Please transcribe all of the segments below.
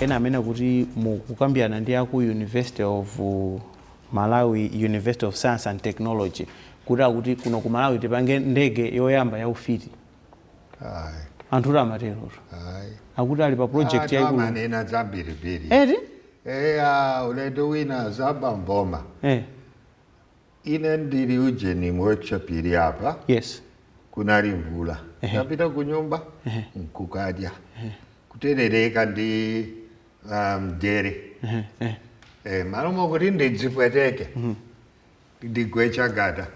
ena amanena kuti mukukambirana ndi aku university of uh, malawi university of science and technology kuti akuti kuno ku malawi tipange ndege yoyamba ya ufiti Ayi, anthu kuti amaterotu ayi. akuti ali pa project Anthu yaikulu amanena zambirimbiri eti eya ulendo wina zaba mboma eh, ine ndili ujeni workshop ili apa yes kunali mvula Ehe. ndapita ku nyumba Ehe. nkukadya kuterereka ndi ah, ndere Eh, eh. eh, malo mokuti ndidzipweteke Ndigwe chagada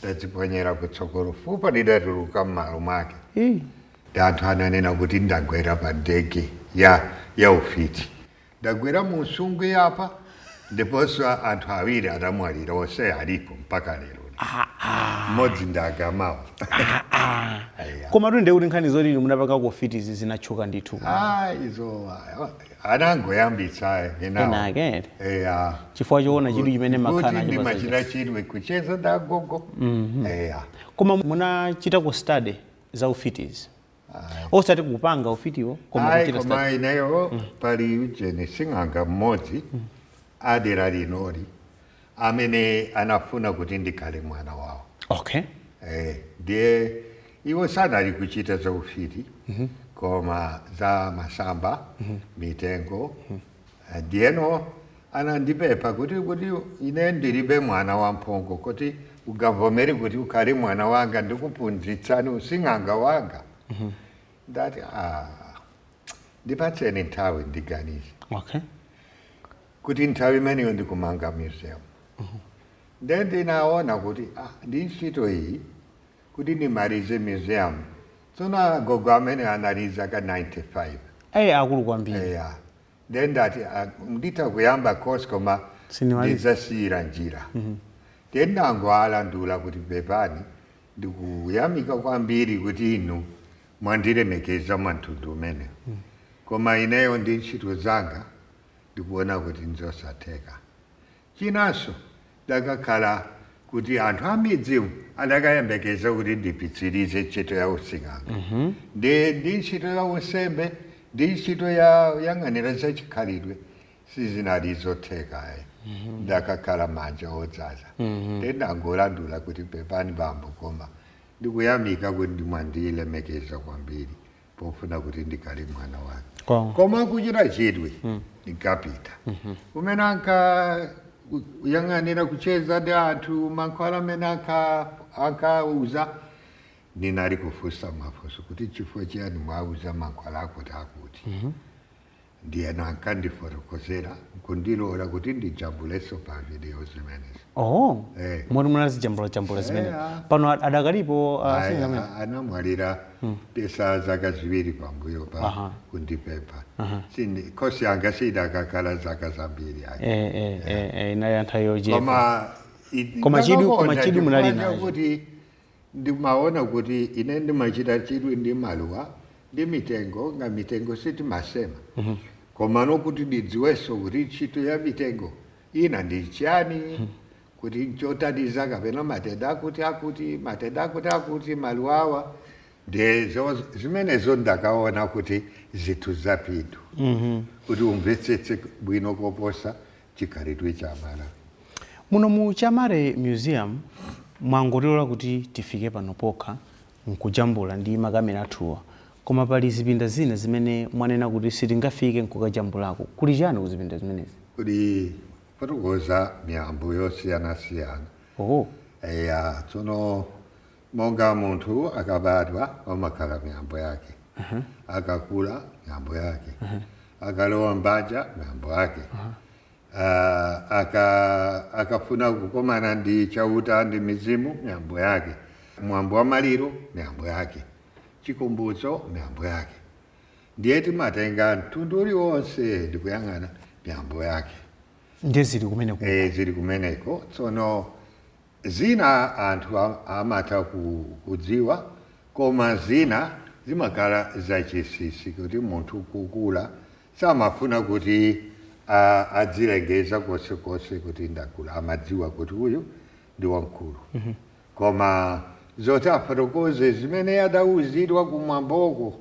ndadziponyera kutsogolo fupa lidatuluka m'malo mwake Ii. ndi anthu ananena kuti ndagwera pa ndege ya ya ufiti ndagwera mu nsungwi apa ndiponso a- anthu awiri adamwalira onse alipo mpaka lero mmodzi nda Gamawo Aya. komatu nde kuti nkhani zoti inu munapangako ufitizi zinatchuka ndithu Ah, izo ah, anangoyambitsa enawo enaake eya chifukwa choona chidwi chimene makhala kuti nacho ndimachita pazaja chidwi kucheza ndi agogo eya koma munachitako study za ufitizi osati kupanga ufitiwo koma ayi kuchita koma study ineyo pali ujeni sing'anga mmodzi adera linoli amene anafuna kuti ndikhale mwana wawo okay eh, ndiye iwo sanali kuchita za ufiti koma za masamba mitengo Eh, ndiyeno anandipepha kuti kuti ine ndilibe mwana wamphongo kuti ungavomere kuti ukhale mwana wanga ndikuphunzitsani using'anga wanga ndati ah, ndipatseni nthawi ndiganize okay kuti nthawi imeneyo ndikumanga museum nde ndinaona kuti ah, ndi ntchito iyi kuti ndimalize museum tsono agogo amene anali zaka 95 ayi akulu kwambiri eya nde ndati ah, nditha kuyamba course koma Sindimaliza. ndidzasiyira njira nde ndangowalandula kuti pepani ndikuyamika kwambiri kuti inu mwandilemekeza mwantundu umenewu koma ineyo ndi ntchito zanga ndikuona kuti n'zosatheka. Chinanso, ndakakhala kuti anthu a m'midzimu adakayembekeza kuti ndipitsirize ntchito ya using'anga ndi ndi ntchito ya unsembe ndi ntchito yoyang'anira za chikhalidwe sizinali zotheka ayi ndakakhala manja odzaza nde ndangolandula kuti pepani bambo koma ndikuyamika kuti mwandilemekeza kwambiri pofuna kuti ndikhale mwana wake. Koma kuchita chidwi ndikapita umene anka yang'anira kucheza ndi anthu mankhwala amene anka- ankauza ndinali kufunsa mafunso kuti chifukwa chiyani mwauza mankhwala akuti akuti Ndiyeno ankandifotokozera n'kundilola kuti ndijambulenso pa vidiyo zimenezi. Oho. Eh. Moti munazijambulajambula zimene. Eya. Pano ad- adakalipo uh, Ayi, sing'anga amene. a- anamwalira patatha zaka ziwiri pambuyo pa Aha. kundipempha Sindi- kosi yanga sidakakhala zaka zambiri ayi. Eh, eh, eh, eh, inali anthawi yochepa. koma i- Koma chidwi- ndakakonda koma chidwi munali chifukwa nacho. chakuti Ndimaona kuti ine ndimachita chidwi ndi maluwa ndi mitengo, monga mitengo sitimasema, komano kuti ndidziwenso kuti ntchito ya mitengo ina ndi chiyani, kuti nchothandiza kapena matenda akuti akuti, matenda akuti akuti, maluwa awa ndiye zimenezo ndakaona kuti zinthu zaphindu kuti umvetsetse bwino koposa chikhalidwe cha Amalawi. Muno mu Chamare Museum mwangotilola kuti tifike pano pokha n'kujambula ndi makamera athuwa, koma pali zipinda zina zimene mwanena kuti sitingafike n'kukajambulako. Kuli chiyani kuzipinda zimenezi? Kuli kufotokoza miyambo yosiyanasiyana. Oho. Eya, tsono. Monga munthu akabadwa pamakhala miyambo yake, akakula miyambo yake, akalowa m'banja miyambo yake, ah, aka, akafuna kukomana ndi Chauta ndi mizimu miyambo yake, mwambo wa maliro miyambo yake, Chikumbutso miyambo yake. Ndiye timatenga mtundu uliwonse ndi kuyang'ana miyambo yake. Ndiye zili kumeneko. Eh, zili kumeneko. Tsono Zina anthu amatha kudziwa koma zina zimakhala zachinsinsi kuti munthu kukula samafuna kuti adzilengeza konse konse kuti ndakula amadziwa kuti uyu ndi wamkulu koma zoti afotokoze zimene adauzidwa kumwamboko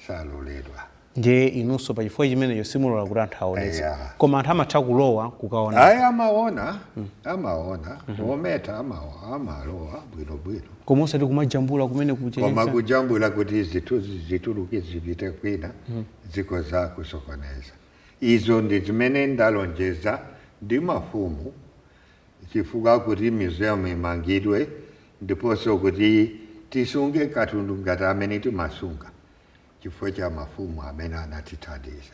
saloledwa. ndiye inunso pa chifukwa chimenecho simulola kuti anthu aonetse Eya. koma anthu amatha kulowa kukaona ayi amaona amaona ometa amalowa bwinobwino koma osati kumajambula kumene koma kuchenjeza kujambula kuti zitu- zituluke zipite kwina zikhoza kusokoneza izo ndi zimene ndalonjeza ndi mafumu chifukwa kuti museum imangidwe ndiponso kuti tisunge katundu ngati amene timasunga chifukwa cha mafumu amene anatithandiza.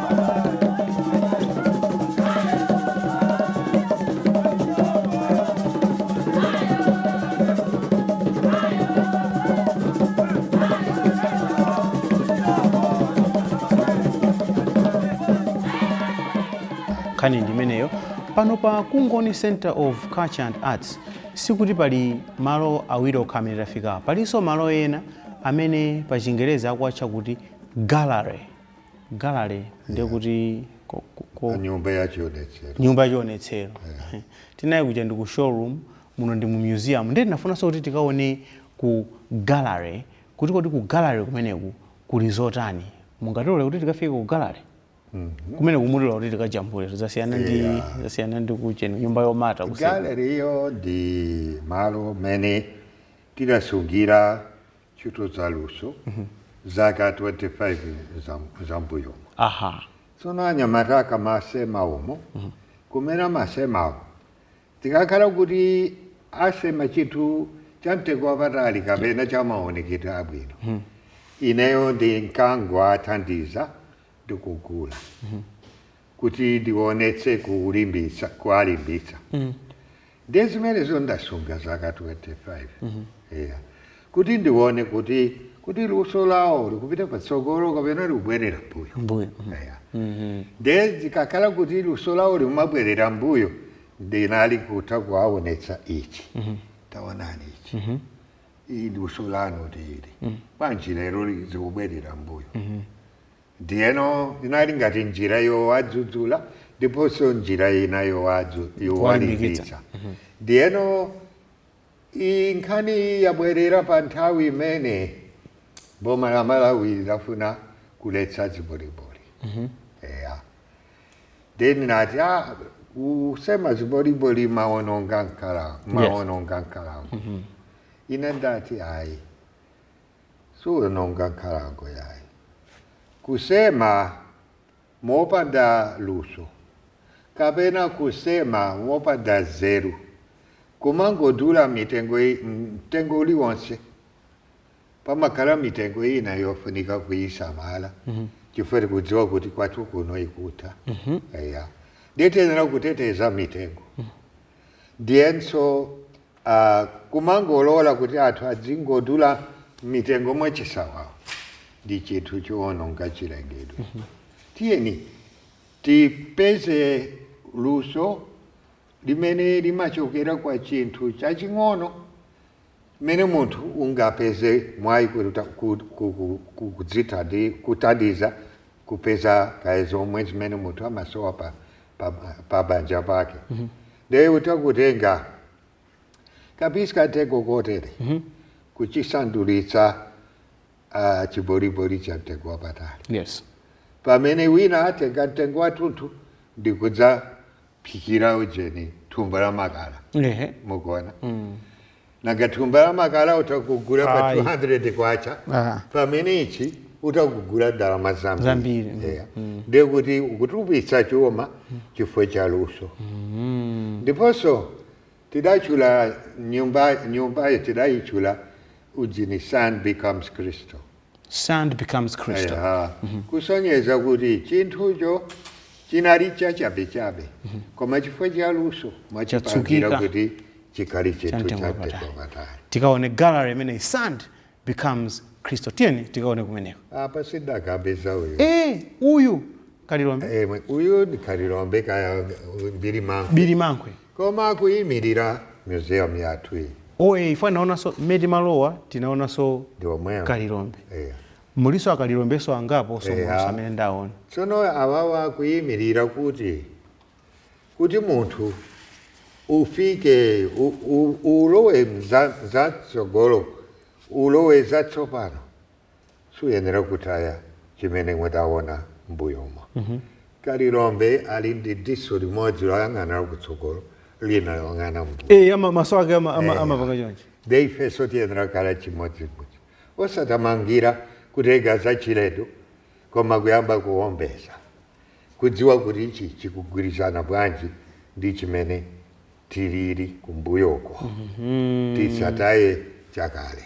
nkhani ndi imeneyo, pano pa kungoni center of culture and arts sikuti pali malo awiri okha amene tafikawo palinso malo ena amene pa chingerezi akuwatcha kuti gallery Gallery ndiye kuti ko, ko, ko, nyumba ya chionetsero nyumba ya chionetsero yeah. tinali kuja ndi ku showroom muno ndi mu museum ndiye tinafunanso kuti tikaone ku gallery kuti kodi ku gallery kumeneku kuli zotani mungatilole kuti tikafike ku gallery mm -hmm. kumeneku mutilola kuti tikajambule zasiyana ndi yeah. zasiyana ndi kucheni nyumba yomata gallery yo ndi malo mene tidasungira ntchito za luso zaka 25 za- zambuyomo aha tsono anyamata akamasema umo kumene amasemawo zikakhala kuti asema chinthu cha mtengo wapatali kapena cha maonekedwe abwino ineyo ndinkangowathandiza ndikugula kuti ndiwonetse kulimbitsa kuwalimbitsa ndiye zimenezo ndasunga zaka 25 eya kuti ndiwone kuti kuti luso lawo likupita patsogolo kapena likubwerera mbuyo mbuyo eya ndiye zikakhala kuti luso lawo likumabwerera mbuyo ndinali kutha kuwawonetsa ichi tawonani ichi ili luso lanu lili bwanji lero li- zikubwerera mbuyo Ndiyeno inali ngati njira yowadzudzula ndiponso njira ina yowadzu- yowalimbitsa. Ndiyeno iyi nkhani yabwerera pa nthawi imene boma la Malawi linafuna kuletsa ziboliboli. Eya. Ndiye anati ah, kusema ziboliboli mumawononga nkhalango, mumawononga nkhalango. Ine ndati ayi. suwononga nkhalango yayi. Kusema mopanda luso kapena kusema mopanda nzeru kumangodula mitengo, mtengo uliwonse pamakhala mitengo ina yofunika kuyisamala chifukwa tikudziwa kuti kwathu kuno ikutha. Eya. Ndiye tiyenera kuteteza mitengo. Ndiyenso Aaa kumangolola kuti anthu adzingodula mitengo mwachisawawa ndi chinthu choononga chilengedwe tiyeni tipeze luso limene limachokera kwa chinthu chaching'ono mene munthu ungapeze mwayi kutha kudzithandi kuthandiza kupeza kaya zomwe zimene munthu amasowa pa pa pa banja pake Nde utakutenga ka piece ka mtengo kotere kuchisandulitsa chiboliboli cha mtengo wapatali. Yes. Pamene wina atenga mtengo wathunthu ndi kudzaphikira ujeni thumba la makala. Ehe. Mukuona? Nanga thumba la makala utakugula pa Ayi. 200 kwacha Ah. pamene ichi utakugula ndalama zambiri Zambiri, mm, Yeah. ndiye kuti ukutupitsa chuma chifukwa cha luso ndiponso tidachula nyumba nyumbayo tidayichula ujeni sand becomes crystal Sand becomes crystal. Eya, kusonyeza kuti chinthucho chinali chachabechabe koma chifukwa cha luso mwachipangira Chatsukika. kuti chikhale chinthu Chamtengo cha wapatali. mtengo wapatali Tikaone gallery imeneyi sand becomes crystal. Tiyeni tikaone kumeneko. apa tidakapeza uyu Eh, uyu kalilombe Eh, uyu ndi kalilombe kaya birimankhwe birimankhwe. Koma akuimilira museum yathu iyi. Oe chifukwa naonanso mmene timalowa tinaonanso Ndi omwewo. kalilombe Eya. mulinso akalilombenso angapo so Eya. mulinso amene ndaona Tsono awawa akuimilira kuti kuti munthu ufike u, u, ulowe mza, za tsogolo ulowe za tsopano suyenera kutaya chimene mudawona m'mbuyomo. Kalilombe ali ndi diso limodzi loyang'ana lakutsogolo, lina loyang'ana m'mbuyo. Eya, ma- maso ake ama- ama- Eya. amapanga chonchi. Nde ifenso tiyenera kukhala chimodzimodzi, osatamangira kutenga zachilendo, koma kuyamba kuwombeza, kudziwa kuti ichi chikugwirizana bwanji ndi chimene tilili kumbuyoko. Tisataye chakale.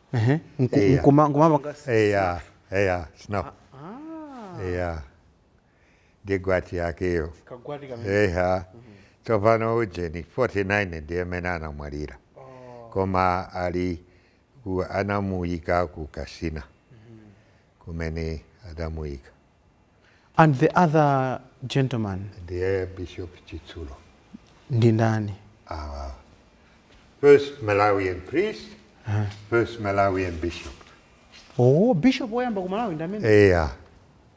Ehe, nku- Eya. nkuma- nkumapanga eya eya snow eya ndi gwati yakeyo kagwati eya tsopano ujeni 49 ndiye amene anamwalira koma ali a- anamuyika ku Kasina kumene adamuyika And the other gentleman. Ndiye Bishop Chitsulo. Ndi ndani? Awa. First Malawian priest, uh -huh. first Malawian bishop. Oh, bishop woyamba ku Malawi ndamene? Eh, yeah.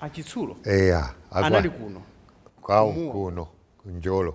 Achitsulo? Eh, yeah. Anali kuno. Kwao kuno, ku Njolo.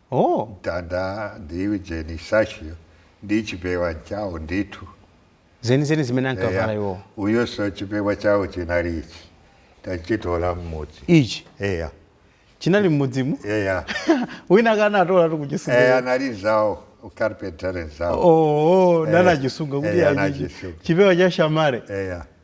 Oh! Mtanda ndi ujeni sasho ndi chipewa nchawo ndithu. Zenizeni zimene Eya, ankavala iwowo. uyonso chipewa chawo chinali ichi. Tachitola m'mudzi. Ichi? Eya. Chinali m'mudzimu? Eya. Wina wake anatola tu kuchisunga. Eya, anali nzawo, ukarpentare nzawo. Oh, oh, Eya, nanachisunga kuti eya, achichi. anachisunga. Chipewa cha shamare. Eya.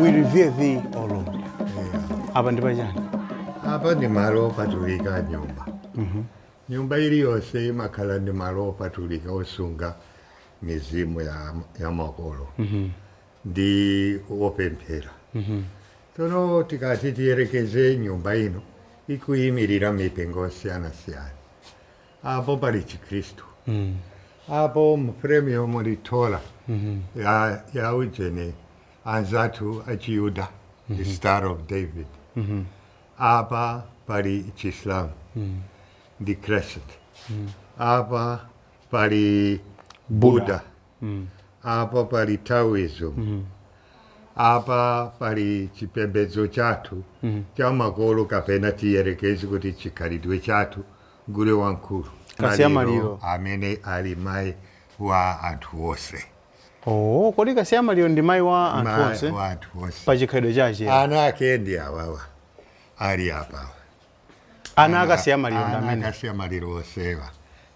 we revere thee o lord apa ndi pachani apa ndi malo opatulika a nyumba Nyumba iliyonse imakhala ndi malo opatulika osunga mizimu ya, ya makolo ndi opemphera. Tsono tikati tiyerekeze nyumba ino ikuyimirira mipingo yosiyanasiyana, apo pali Chikhristu, apo mframeyomo muli Torah ya, ya ujeni anzathu achiyuda, the Star of David, Apa pali Chislam mm. the Crescent. Mm. Apa pali Buddha. Buddha. Mm. Apa pali Taoism. Mm. Apa pali chipembedzo chathu mm. cha makolo kapena tiyerekeze kuti chikhalidwe chathu gule wamkulu. Kasiyamaliro. Amene ali mai wa anthu onse. Oh, kodi kasiyamaliro ndi mayi wa anthu Ma- onse wa anthu onse pa chikhalidwe chache ana ake ndi awawa ali apa ana akasiyamaliro ndi ana amene akasiyamaliro onsewa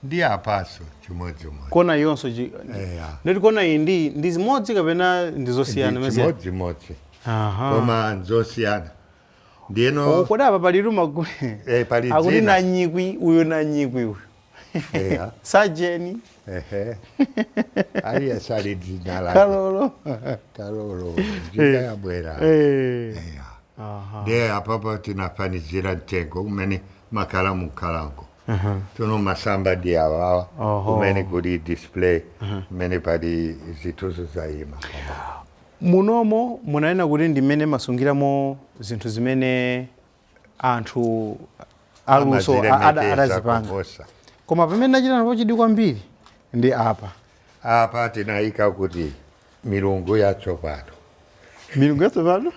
ndi apaso chimodzimodzi kona yonso chi- Eya. ndati kona iyi ndi ndi zimodzi kapena ndi zosiyana mezi chimodzimodzi aha koma nzosiyana ndiyeno Oh, kodi apa pali luma Eh, pali akuti dzina. nanyikwi uyu nanyikwi uyu Eya. sajeni Ehe. Ali, Asali dzina lake. kalolo Kalolo. Dzina yabwera. Eh. Eya. Aha. Ndiye apapo tinafanizira mtengo umene umakhala mukhalango. Aha. Tsono masamba ndi awawa. Oho. Kumene kuli display. Kumene pali zinthuzo zayima. munomo munanena kuti ndi mmene masungiramo zinthu zimene anthu aluso adazipanga. koma pamene ndachita napo chidwi kwambiri ndi apa apa tinayika kuti milungu yatsopano milungu yatsopano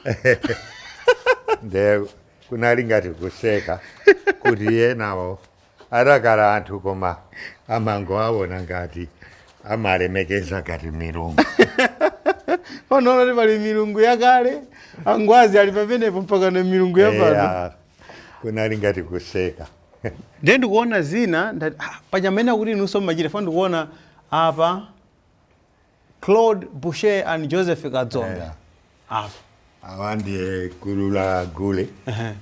nde kunali ngati kuseka kuti yenawo adakhala anthu koma amangowaona ngati amalemekeza ngati milungu pano ona kuti pali milungu yakale angwazi ali pamenepo mpaka na milungu yapano Eya, kunali ngati kuseka ndiye ndikuona zina ndati ah, panyamene akuti inunso mmachita fo ndikuona apa Claude Boucher and Joseph Kadzombe apa awa ndiye gulu la gule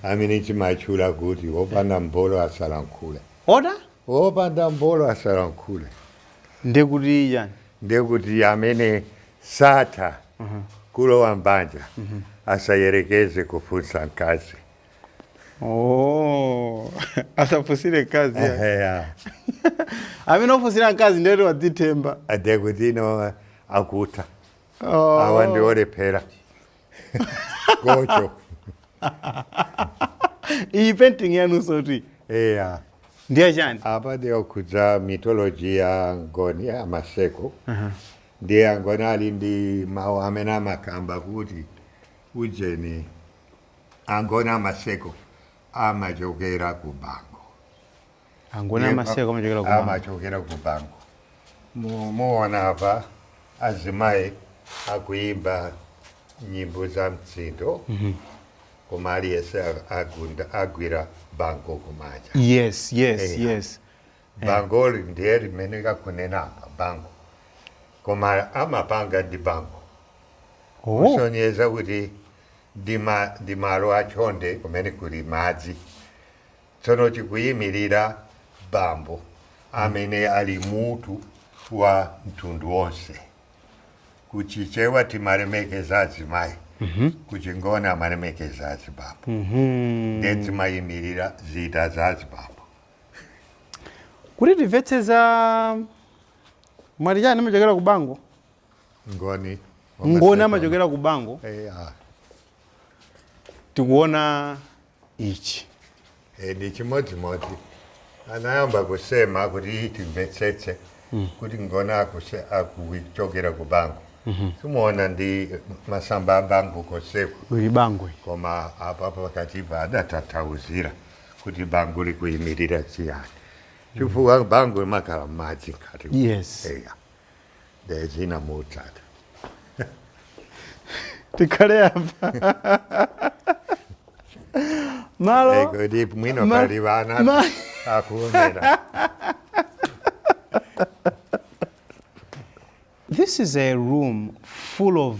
amene timatchula kuti wopanda mbolo asalankhule oda wopanda mbolo asalankhule ndekuti chani ndekuti amene satha kulowa mbanja asayerekeze kufunsa mkazi Oh, asafunsire mkazi ya. Eheya. amene ofunsira mkazi ndiyoti wodzithemba nde kuti ino akutha Oh. awa ndiolephera gocho iyi painting yanunsotu eya ndiye chani apa ndiokhudza mythology ya ngoni ya maseko ndiye angoni ali ndi mawu amene amakamba kuti ujeni angoni amaseko amachokera ku bango angoni Yemba- amaseko amachokera ku bango amachokera ku bango Mu- muona apa azimayi akuyimba nyimbo za mtsindo koma aliyense a- agunda agwira bango kumanja yes yes Eh. yes bango ndiye limene kakunena apa bango koma amapanga ndi bango oh kusonyeza kuti ndi malo a chonde kumene kuli madzi. Tsono chikuimirira bambo amene ali mutu wa mtundu wonse. Ku Chichewa timalemekeza azimayi, ku Chingoni amalemekeza azibambo. Ndiye zimayimirira zida za azibambo. Kuti timvetsetsa mwati chani amachokera ku bango. ngoni ngoni amachokera ku bango eya tikuona ichi e, ndi chimodzimodzi anayamba kusema kuti timvetsetse kuti ngoni akuse- akuchokera ku bango simuona ndi masamba a bango koseku uli bango ili. koma apa pakatipa adatanthauzira kuti bango likuyimirira chiyani chifukwa bango imakhala madzi mkati yes eya ndiye zina motsata tikhale apa malo Eh, kodi mwino ma- pali ana ma- akuonera This is a room full of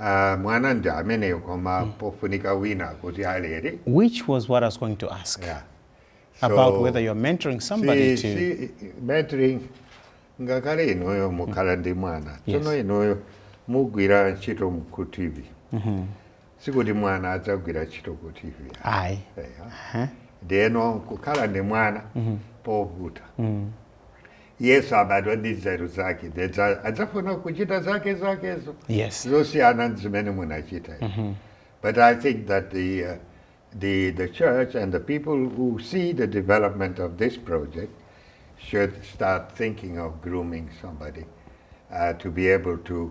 Aaa mwana ndi ameneyo koma pafunika wina kuti alere. Which was what I was going to ask Yeah. about whether you're mentoring somebody si, to. si mentoring ngakhale inuyo mukhala ndi mwana tsono Yes. inuyo mugwira ntchito mu- ku tv sikuti mwana adzagwira ntchito ku tv Ayi. Eya. ndeno kukhala ndi mwana povuta yes abadwa ndi nzeru zake ndiye dza- adzafuna kuchita zake zakezo yes zosiyana ndi zimene munachita but i think that the, uh, the, the church and the people who see the development of this project should start thinking of grooming somebody uh, to be able to